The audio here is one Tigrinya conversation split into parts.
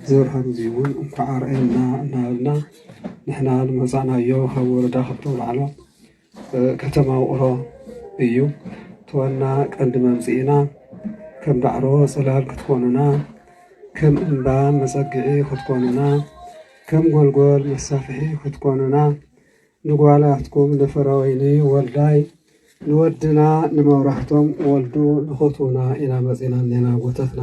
ዘብርሃን እዚ እውን እንኳዕ ኣርኣየና እናበልና ንሕና ዝመፃእናዮ ካብ ወረዳ ክፍለ ኣውላዕሎ ከተማ ውቕሮ እዩ። እቲ ዋና ቀንዲ መምጽኢና ከም ዳዕሮ ጽላል ክትኮኑና፣ ከም እምባ መጸግዒ ክትኮኑና፣ ከም ጎልጎል መሳፍሒ ክትኮኑና፣ ንጓላትኩም ንፍረወይኒ ወልዳይ፣ ንወድና ንመብራህቶም ወልዱ ንኹትዉና ኢና መጺና እኔና ኣጎታትና።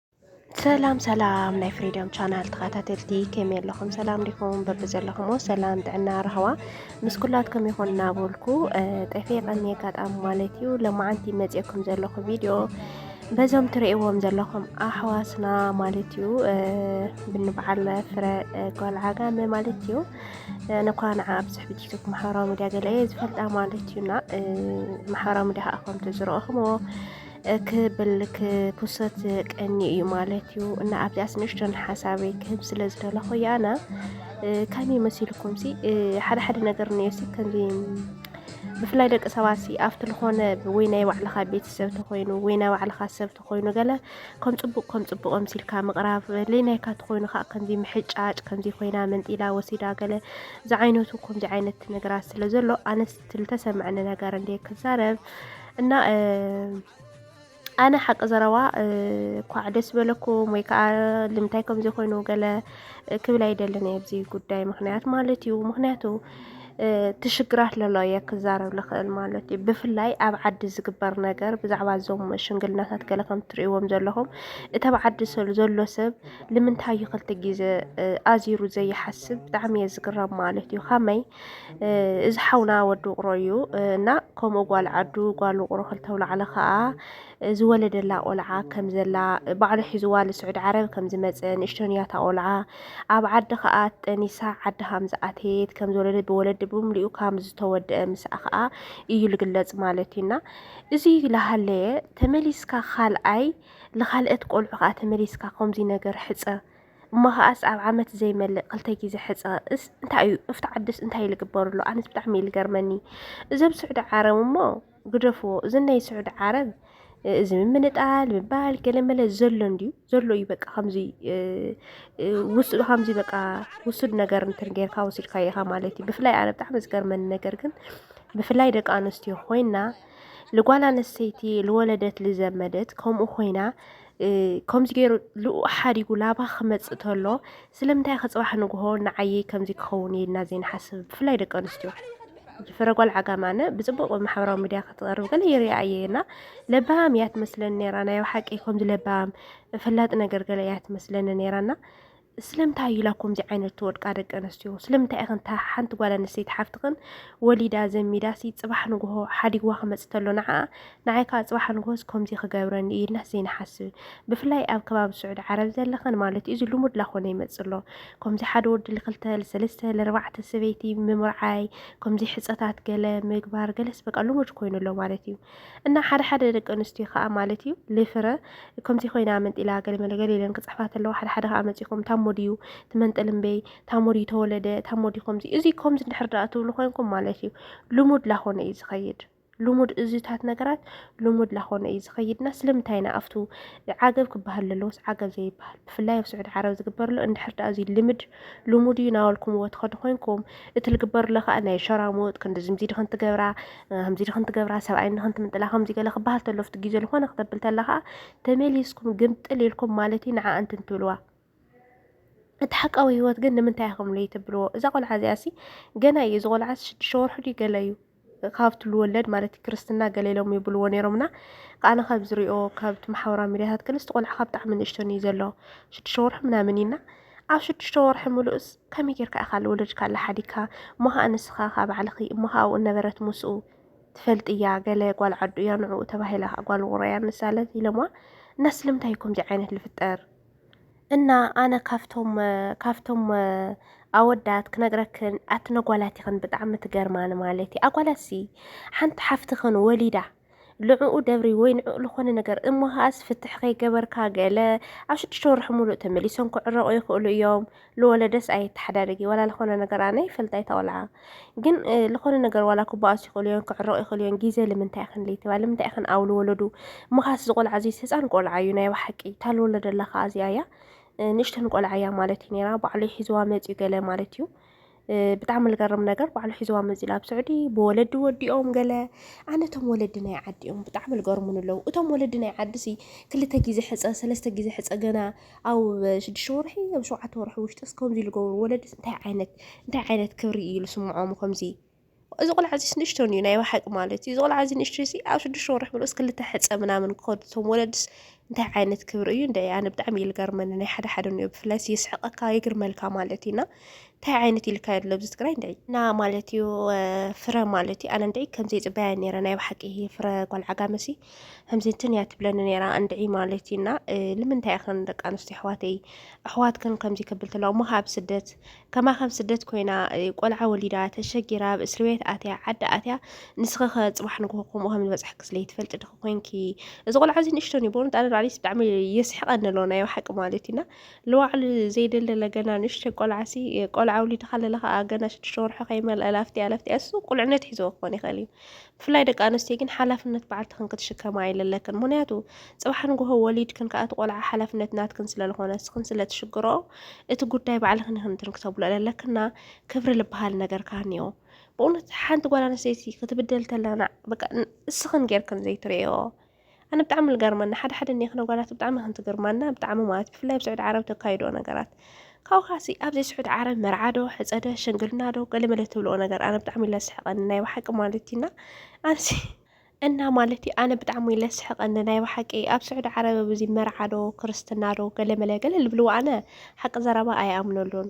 ሰላም ሰላም ናይ ፍሪደም ቻናል ተኸታተልቲ ከመይ ኣለኹም? ሰላም ዲኹም? በቢ ዘለኹሞ ሰላም ጥዕና ራህዋ ምስ ኩላትኩም ይኹን እናበልኩ ጠፌ ቀኒ ኣጋጣሚ ማለት እዩ ለማዓንቲ መፅኤኩም ዘለኹ ቪድዮ በዞም ትርእይዎም ዘለኹም ኣሕዋትና ማለት እዩ ብንበዓል ፍረ ጓል ዓጋመ ማለት እዩ ነኳ ንዓ ኣብዝሕ ብቲክቶክ ማሕበራዊ ሚዲያ ገለ ዝፈልጣ ማለት እዩና ማሕበራዊ ሚዲያ ከምቲ ዝረእኹምዎ ክብል ክኩሰት ቀኒ እዩ ማለት እዩ እና ኣብዚኣስ ንእሽቶን ሓሳበይ ክህብ ስለ ዝደለኹ ያና ከመይ መሲልኩም ሲ ሓደ ሓደ ነገር ነሲ ከምዚ ብፍላይ ደቂ ሰባት ሲ ኣብቲ ዝኾነ ወይ ናይ ባዕልኻ ቤተሰብ ተኮይኑ ወይ ናይ ባዕልኻ ሰብ ተኮይኑ ገለ ከም ፅቡቅ ከም ፅቡቅ ኣምሲልካ ምቕራብ ለይናይካ ተኮይኑ ከዓ ከምዚ ምሕጫጭ ከምዚ ኮይና መንጢላ ወሲዳ ገለ ዝዓይነቱ ከምዚ ዓይነት ነገራት ስለ ዘሎ ኣነስ ትልተሰምዐኒ ነገር እንደ ክዛረብ እና ኣነ ሓቂ ዘረባ ኳዕ ደስ በለኩም ወይ ከዓ ልምንታይ ከምዚ ኮይኑ ገለ ክብል ኣይደልን እየ ኣብዚ ጉዳይ ምክንያት ማለት እዩ ምክንያቱ ትሽግራት ለሎ እየ ክዛረብ ልኽእል ማለት እዩ ብፍላይ ኣብ ዓዲ ዝግበር ነገር ብዛዕባ እዞም ሽንግልናታት ገለ ከም ትርእዎም ዘለኹም እቲ ኣብ ዓዲ ዘሎ ሰብ ልምንታይ እዩ ክልተ ግዜ ኣዚሩ ዘይሓስብ ብጣዕሚ እየ ዝግረም ማለት እዩ ከመይ እዚ ሓውና ወዲ ውቕሮ እዩ እና ከምኡ ጓል ዓዱ ጓል ውቕሮ ክልተ ውላዕለ ከዓ ዝወለደላ ቆልዓ ከም ዘላ ባዕሉ ሒዝዋ ንስዑድ ዓረብ ከም ዝመፀ ንእሽቶን እያ እታ ቆልዓ ኣብ ዓዲ ከዓ ጠኒሳ ዓዲ ከም ዝኣተየት ከም ዝወለደ ብወለዲ ብምልኡ ከም ዝተወደአ ምስኣ ከዓ እዩ ዝግለፅ ማለት እዩና እዚ ላሃለየ ተመሊስካ ካልኣይ ንካልኦት ቆልዑ ከዓ ተመሊስካ ከምዚ ነገር ሕፀ እሞ ከዓስ ኣብ ዓመት ዘይመልእ ክልተ ግዜ ሕፀ እስ እንታይ እዩ እፍቲ ዓድስ እንታይ ልግበርሉ ኣነስ ብጣዕሚ እዩ ልገርመኒ እዞም ስዑዲ ዓረብ እሞ ግደፍዎ እዚ ናይ ስዑዲ ዓረብ እዚ ምምንጣል ምባል ገለመለ ዘሎ እንድዩ ዘሎ እዩ በቃ ከምዚ ውሱድ ከምዚ በቃ ውሱድ ነገር እንትን ጌርካ ወሲድካ ኢኻ ማለት እዩ ብፍላይ ኣነ ብጣዕሚ ዝገርመኒ ነገር ግን ብፍላይ ደቂ ኣንስትዮ ኮይና ልጓል ኣነስተይቲ ልወለደት ልዘመደት ከምኡ ኮይና ከምዚ ገይሩ ልኡ ሓዲጉ ላባ ክመፅእ ተሎ ስለምንታይ ከ ፅባሕ ንግሆ ንዓየይ ከምዚ ክኸውን እየ ኢልና ዘይንሓስብ ብፍላይ ደቂ ኣንስትዮ ፍረጓል ዓጋም ኣነ ብፅቡቅ ማሕበራዊ ሚድያ ክትቀርብ ገለ ይሪኣ እየ እና ለባም እያ ትመስለኒ ነራ ናይ ሓቂ ከምዚ ለባም ፈላጢ ነገር ገለ እያ ትመስለኒ ነራና ስለምንታይ እዩ ኢላ ከምዚ ዓይነት ትወድቃ ደቂ ኣንስትዮ? ስለምንታይ ኢኽን እታ ሓንቲ ጓል ኣንስተይቲ ሓፍትኽን ወሊዳ ዘሚዳሲ ጽባሕ ንግሆ ሓዲግዋ ክመጽ ተሎ ንዓኣ ንዓይ ከዓ ጽባሕ ንግሆስ ከምዚ ክገብረኒ እዩ ኢልናስ ዘይንሓስብ? ብፍላይ ኣብ ከባቢ ስዑዲ ዓረብ ዘለኽን ማለት እዩ እዚ ልሙድ ላኾነ ይመጽእ ኣሎ። ከምዚ ሓደ ወዲ ልክልተ ልሰለስተ ልርባዕተ ሰበይቲ ምምርዓይ ከምዚ ሕጸታት ገለ ምግባር ገለስ በቃ ልሙድ ኮይኑ ኣሎ ማለት እዩ። እና ሓደ ሓደ ደቂ ኣንስትዮ ከዓ ማለት እዩ ልፍረ ከምዚ ኮይና መንጢላ ገለመለ ገለ ኢለን ክፅሕፋ ተለዋ ሓደ ሓደ ከዓ መፂኹም ታሞ ድዩ ትመንጥል እምበይ ታሞ ድዩ ተወለደ ታሞ ድዩ ከምዚ እዚ ከምዚ እንድሕር ደኣ ትብሉ ኮይንኩም ማለት እዩ ልሙድ ላኾነ እዩ ዝኸይድ ልሙድ እዚታት ነገራት ልሙድ ላኾነ እዩ ዝኸይድና ስለምንታይ ኢና ኣብቱ ዓገብ ክበሃል ዘለዎስ ዓገብ ዘይበሃል ብፍላይ ኣብ ስዑድ ዓረብ ዝግበርሎ እንድሕር ደኣ እዚ ልምድ ልሙድ እዩ ናበልኩምዎ ትኸዱ ኮይንኩም እቲ ልግበርሎ ከዓ ናይ ሸራሙጥ ከምዚ ምዚ ድኽን ትገብራ ከምዚ ድኽን ትገብራ ሰብኣይ ንኽን ትምንጥላ ከምዚ ገለ ክበሃል ተሎ ኣብቲ ግዜ ዝኾነ ክተብል ተላ ከዓ ተመሊስኩም ግምጥል ኢልኩም ማለት እዩ ንዓ እንትን ትብልዋ እቲ ሓቃዊ ህይወት ግን ንምንታይ ኢኹም ለይተብልዎ እዛ ቆልዓ እዚኣ ሲ ገና እዩ እዚ ቆልዓ ሽዱሽተ ወርሑ ድዩ ገለ እዩ ካብ ትብሉ ወለድ ማለት ክርስትና ገለ ኢሎም ይብልዎ ነይሮም እና ኣነ ካብ ዝሪኦ ካብቲ ማሕበራዊ ሚዲያታት ግን እቲ ቆልዓ ካብ ብጣዕሚ ንእሽቶን እዩ ዘሎ ሽዱሽተ ወርሒ ምናምን እዩና ኣብ ሽዱሽተ ወርሒ ምሉእስ ከመይ ጌርካ ኢኻ ልወለድካ ኣላ ሓዲካ እሞ ከዓ ንስኻ ካብ ባዕልኺ እሞ ከዓ ኣብኡ ነበረት ምስኡ ትፈልጥ እያ ገለ ጓል ዓዱ እያ ንዕኡ ተባሂላ ጓል ውቕሮ እያ ንሳለት ኢሎማ እና ስለምንታይ እዩ ከምዚ ዓይነት ልፍጠር እና ኣነ ካብቶም ካብቶም ኣወዳት ክነግረክን ኣቲ ነጓላት ይኽን ብጣዕሚ ትገርማኒ ማለት እዩ ኣጓላሲ ሓንቲ ሓፍትኽን ወሊዳ ልዕኡ ደብሪ ወይ ንዕኡ ዝኾነ ነገር እሞ ከዓስ ፍትሕ ከይገበርካ ገለ ኣብ ሽዱሽተ ወርሒ ሙሉእ ተመሊሶም ክዕረቑ ይኽእሉ እዮም ልወለደስ ኣየተሓዳድጊ ዋላ ልኾነ ነገር ኣነ ይፈልጥ ኣይታቆልዓ ግን ልኾነ ነገር ዋላ ክበኣሱ ይኽእሉ እዮም ክዕረቑ ይኽእሉ እዮም ግዜ ልምንታይ ይኽን ለይትባ ልምንታይ ይኽን ኣብ ልወለዱ ምኻስ ዝቆልዓ እዚ ህፃን ቆልዓ እዩ ናይ ባሓቂ እታ ልወለደላ ከዓ እዚኣ እያ ንእሽተን ቆልዓ እያ ማለት እዩ ነራ ባዕሉ ሒዝዋ መፅዩ ገለ ማለት እዩ ብጣዕሚ ልገርም ነገር ባዕሉ ሒዝዋ መፂኡ ኣብ ስዑዲ ብወለዲ ወዲኦም ገለ ኣነ እቶም ወለዲ ናይ ዓዲ እዮም ብጣዕሚ ልገርሙን ኣለዉ እቶም ወለዲ ናይ ዓዲ ሲ ክልተ ግዜ ሕፀ ሰለስተ ግዜ ሕፀ ገና ኣብ ሽዱሽተ ወርሒ ኣብ ሸውዓተ ወርሒ ውሽጢ እስከምዚ ልገብሩ ወለዲ እንታይ ዓይነት እንታይ ዓይነት ክብሪ እዩ ልስምዖም ከምዚ እዚ ቆልዓ እዚስ ንእሽቶን እዩ ናይ ባሓቂ ማለት እዩ። እዚ ቆልዓ እዚ ንእሽቶ እዚ ኣብ ሽዱሽተ ወርሕ ምሉእስ ክልተ ሕጸ ምናምን ክኸዱ እቶም ወለድስ እንታይ ዓይነት ክብሪ እዩ እንደ ኣነ ብጣዕሚ እዩ ዝገርመኒ ናይ ሓደ ሓደ እንዮ ብፍላይ የስሕቀካ የግርመልካ ማለት እዩና እንታይ ዓይነት ኢልካ የድሎ ኣብዚ ትግራይ እንደ እና ማለት እዩ ፍረ ማለት እዩ ኣነ እንደ ከምዚ ፅበያ ነረ ናይ ባሓቂ ፍረ ጓል ዓጋመሲ ከምዚ እንትን እያ ትብለኒ ነራ እንድዒ ማለት እዩና ልምንታይ ኸን ደቂ ኣንስትዮ ኣሕዋተይ ኣሕዋትክን ከምዚ ክብል ተለዋ እሞ ካብ ስደት ከማኸም ስደት ኮይና ቆልዓ ወሊዳ ተሸጊራ ኣብ እስሪ ቤት ኣትያ ዓዲ ኣትያ ንስኺ ከ ፅባሕ ንግሆ ከምኡ ከም ዝበፅሐኪ ስለይትፈልጢ ድኺ ኮንኪ እዚ ቆልዓ እዚ ንእሽቶን እዩ በእውነት ኣነ ባዕለይስ ብጣዕሚ የስሕቐኒ ኣለዎ ናይ ሓቂ ማለት እዩና ልዋዕሉ ዘይደለለ ገና ንእሽቶ ቆልዓሲ ቆልዓ ውሊድካ ኣለለካ ገና ሽዱሽተ ወርሖ ከይመልአ ላፍትያ ላፍትያ እሱ ቁልዕነት ሒዞ ክኾን ይኽእል እዩ ብፍላይ ደቂ ኣንስትዮ ግን ሓላፍነት በዓልትኽን ክትሽከማ ኣይለለክን ምክንያቱ ፅባሕ ንግሆ ወሊድክን ከኣቲ ቆልዓ ሓላፍነት ናትክን ስለዝኾነ ስኽን ስለትሽግሮ እቲ ጉዳይ ባዕልኽን ይኽን ትንክተብሎ ለለክና ክብሪ ልበሃል ነገር ካህኒዮ ብእውነት ሓንቲ ጓል ኣንስተይቲ ክትብደል ተላና በቃ እስኽን ጌርክን ዘይትርእዮ ኣነ ብጣዕሚ ልገርመኒ ሓደ ሓደ እኒኣ ክነጓላት ብጣዕሚ ከም ትግርማና ብጣዕሚ ማለት ብፍላይ ኣብ ስዑድ ዓረብ ተካይዶ ነገራት ካብኡ ካሲ ኣብዚ ስዑድ ዓረብ መርዓዶ ሕፀደ ሽንግልናዶ ገለመለ ትብልኦ ነገር ኣነ ብጣዕሚ ለስሕቀኒ ናይ ባሓቂ ማለት ኢና ኣንሲ እና ማለት እዩ ኣነ ብጣዕሚ ለስሕቀኒ ናይ ባሓቂ ኣብ ስዑድ ዓረብ ብዙ መርዓዶ ክርስትናዶ ገለመለ ገለ ልብልዎ ኣነ ሓቂ ዘረባ ኣይኣምነሉን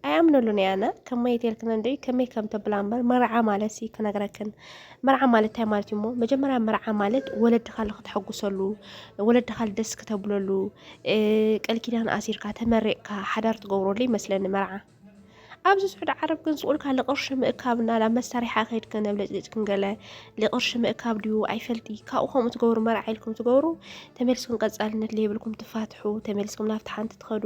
ኣይኣምነሉን እየ ኣነ ከመይ ተልክን እንደ ከመይ ከም ተብላ እምበር መርዓ ማለት ሲ ክነግረክን መርዓ ማለት እንታይ ማለት እዩ እሞ መጀመርያ መርዓ ማለት ወለድኻ ንክትሐጉሰሉ ወለድኻ ደስ ክተብለሉ ቃል ኪዳን ኣሲርካ ተመሪቕካ ሓዳር ትገብረሉ ይመስለኒ መርዓ ኣብዚ ስዑድ ዓረብ ግን ስኡልካ ልቕርሺ ምእካብ እና ናብ መሳሪሓ ከይድ ከነብ ለፅሊፅ ክንገለ ልቕርሺ ምእካብ ድዩ ኣይፈልጢ ካብኡ ከምኡ ትገብሩ መርዓ ኢልኩም ትገብሩ ተመልስኩም ቀፃልነት ለይብልኩም ትፋትሑ ተመልስኩም ናብቲ ሓንቲ ትኸዱ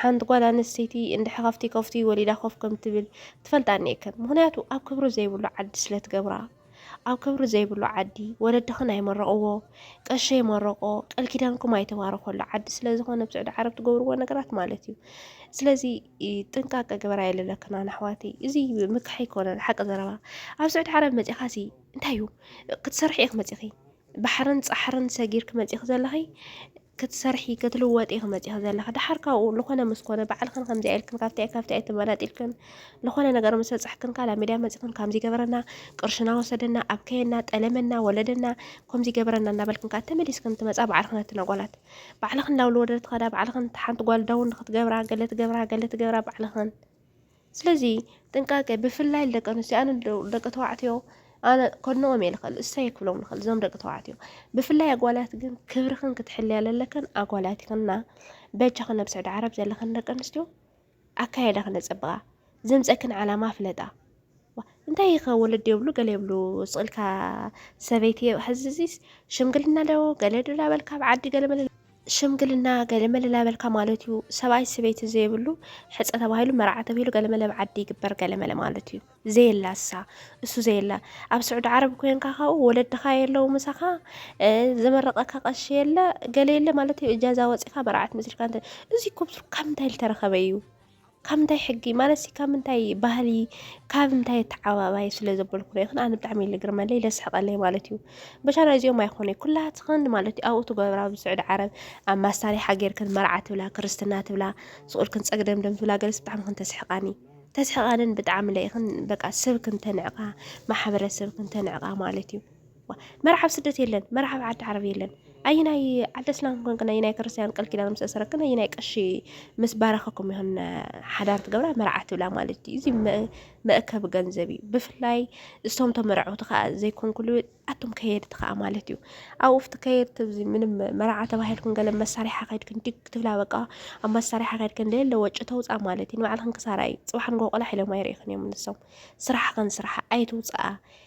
ሓንቲ ጓል ኣንስተይቲ እንድሕ ካብቲ ከፍቲ ወሊዳ ኮፍ ከም ትብል ትፈልጣ እኒኤክን ምክንያቱ ኣብ ክብሪ ዘይብሉ ዓዲ ስለ ትገብራ ኣብ ክብሪ ዘይብሉ ዓዲ ወለድኽን ኣይመረቕዎ ቀሺ ኣይመረቆ ቃል ኪዳንኩም ኣይተባረኸሉ ዓዲ ስለ ዝኾነ ኣብ ስዑዲ ዓረብ ትገብርዎ ነገራት ማለት እዩ ስለዚ ጥንቃቀ ግበራ የለለክና ኣሕዋተይ እዚ ምክሕ ኣይኮነን ሓቂ ዘረባ ኣብ ስዑዲ ዓረብ መፂኻ ሲ እንታይ እዩ ክትሰርሒ ኢኽ መፂኺ ባሕርን ፃሕርን ሰጊርክ መፂኺ ዘለኺ ክትሰርሒ ክትልወጢ ኢኺ መጺኺ ዘለኺ ደሓር ካብኡ ልኾነ ምስ ኮነ ባዕልኽን ከምዚኣ ኢልክን ካብቲ ኣይ ካብቲ ኣይ ተመናጢልክን ልኾነ ነገር ምስ በጻሕክን ካል ኣብ ሚድያ መጺኽን ከምዚ ገበረና ቅርሽና ወሰደና ኣብከየና ጠለመና ወለደና ከምዚ ገበረና እናበልክን ከዓ ተመሊስክን ትመጻ ባዕልኽን እቲ ነጓላት ባዕልኽን ላውሊ ወደድት ኸዳ ባዕልኽን ሓንቲ ጓል ዳውን ንክትገብራ ገለ ትገብራ ገለ ትገብራ ባዕልኽን ስለዚ ጥንቃቄ ብፍላይ ንደቂ ኣንስትዮ ኣነ ደቂ ተባዕትዮ ኣነ ከድንቖም እየ ዝኽእል እሰይ ክብሎም ንኽእል እዞም ደቂ ተባዕትዮ ብፍላይ ኣጓላት ግን ክብርኽን ክትሕልያ ዘለክን ኣጓላት ይኽና በጃኽን ኣብ ስዑዲ ዓረብ ዘለኽን ደቂ ኣንስትዮ ኣካየዳ ክነፀብቓ ዘምፀክን ዓላማ ፍለጣ እንታይ ይኸ ወለዲ የብሉ ገለ የብሉ ስቕልካ ሰበይቲ ሕዝዚስ ሽምግልና ዶ ገለ ዶ ዳበልካ ኣብ ዓዲ ገለ መለ ሽምግልና ገለመለ ላበልካ ማለት እዩ ሰብኣይ ሰበይቲ ዘይብሉ ሕፀ ተባሂሉ መርዓ ተብሂሉ ገለመለ ኣብ ዓዲ ይግበር ገለመለ ማለት እዩ ዘየላ እሳ እሱ ዘየላ ኣብ ስዑዲ ዓረብ ኮንካ ካብኡ ወለድኻ የለው ምሳኻ ዘመረቐካ ቀሺ የለ ገለ የለ ማለት እዩ እጃዛ ወፂኻ መርዓት መሲልካ እዚ ኮብሱር ካብ እንታይ ዝተረኸበ እዩ ካብ እንታይ ሕጊ ማለት ካብ ምንታይ ባህሊ ካብ እንታይ ተዓባባይ ስለ ዘበልኩ ዶ ይኹን ኣነ ብጣዕሚ እዩ ዝግርመለይ ዘስሕቐለይ ማለት እዩ በሻና እዚኦም ኣይኮነ ኩላትኽን ማለት እዩ ኣብኡ ትገብራ ኣብ ስዑዲ ዓረብ ኣብ ማሳሪሓ ጌርክን መርዓ ትብላ ክርስትና ትብላ ስቑልክን ፀግደምደም ትብላ ገለስ ብጣዕሚ ክን ተስሕቃኒ ተስሕቃንን ብጣዕሚ ለይኽን በቃ ስብክን ተንዕቃ ማሕበረሰብክን ተንዕቃ ማለት እዩ መርዓ ኣብ ስደት የለን፣ መርዓ ኣብ ዓዲ ዓረብ የለን። ኣየናይ ዓዲ እስላም ኮንክን ኣየናይ ክርስትያን ቃል ኪዳን ምስ ኣሰረክን ኣየናይ ቀሺ ምስ ባረኸኩም ይኹን ሓዳር ትገብራ መርዓ ትብላ ማለት እዩ። እዚ መእከቢ ገንዘብ እዩ። ብፍላይ እቶም ተመርዐውቲ ከዓ ዘይኮንኩሉ ኣቶም ከየድቲ ከዓ ማለት እዩ። ኣብኡ ኣብቲ ከየድቲ እዚ ምንም መርዓ ተባሂልኩም ገለ መሳርሒ ከድክን ድግ ትብላ በቃ ኣብ መሳርሒ ከድክን ለለ ወጪ ተውፃ ማለት እዩ። ንባዕልክን ክሳራ እዩ። ፅባሕ ንጎ ቆላሕ ኢሎም ኣይርእኽን እዮም ንሶም ስራሕኽን ስራሓ ኣይትውፅኣ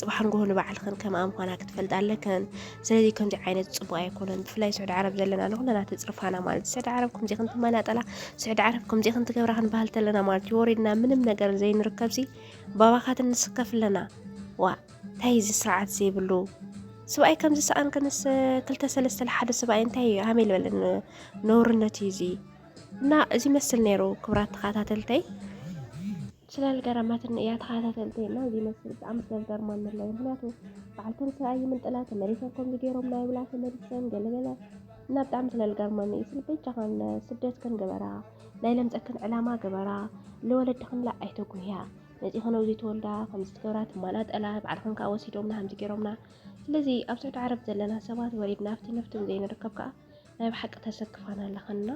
ጽባሕ ንግሆ ንባዕልኽን ከምኣ ምዃና ክትፈልጣ ኣለክን ስለዚ ከምዚ ዓይነት ጽቡቅ ኣይኮነን ብፍላይ ስዑዲ ዓረብ ዘለና ንኹለና ተጽርፋና ማለት እዩ ስዑዲ ዓረብ ከምዚ ክንትመናጠላ ስዑዲ ዓረብ ከምዚ ክንትገብራ ክንበሃል ተለና ማለት እዩ ወሪድና ምንም ነገር ዘይንርከብ ሲ ባባኻት ንስከፍ ኣለና ዋ እንታይ እዚ ስርዓት ዘይብሉ ስብኣይ ከምዚ ሰኣን ከንስ ክልተ ሰለስተ ሓደ ስብኣይ እንታይ እዩ ሃመይ ልበለ ነውርነት እዩ እዚ እና እዚ መስል ነይሩ ክብራት ተኸታተልተይ ስላልገረማትኒ እያ ተኸታተልቲ እና እዚ መስል ብጣዕሚ ስለዝገርማኒ ኣሎ ምክንያቱ በዓል ተንስኣ ይምንጥላ ተመሊሰን ከምዚ ገይሮም ናይ ብላ ተመሊሰን ገለገለ እና ብጣዕሚ ስለዝገርማኒ እዩ ስል በጃኸን ስደትክን ግበራ ናይ ለምፀክን ዕላማ ግበራ ንወለድኽንላ ኣይተጉህያ መፂኸን ኣብዚ ተወልዳ ከምዚ ትገብራ ትማናጠላ ባዕልኽን ከዓ ወሲዶምና ከምዚ ገይሮምና ስለዚ ኣብ ስዑዲ ዓረብ ዘለና ሰባት ወሪድና ኣብቲ ነፍትን ዘይንርከብ ከዓ ናይ ብሓቂ ተሰክፋና ኣለኻ እና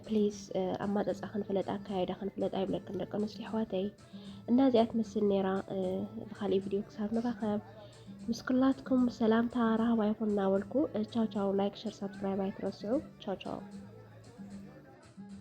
ፕሊዝ ኣማፀፃ ክንፍለጥ ኣካያይዳ ክንፍለጥ ኣይብለክን ደቂ ኣንስትዮ ኣሕዋተይ እና እዚኣ ትመስል ነይራ ብካሊእ ቪድዮ ክሳብ ንራኸብ ምስ ኩላትኩም ሰላምታ ረሃባ ይኹን እናበልኩ ቻው ቻው ላይክ ሸር ሳብስክራይብ ኣይትረስዑ ቻው ቻው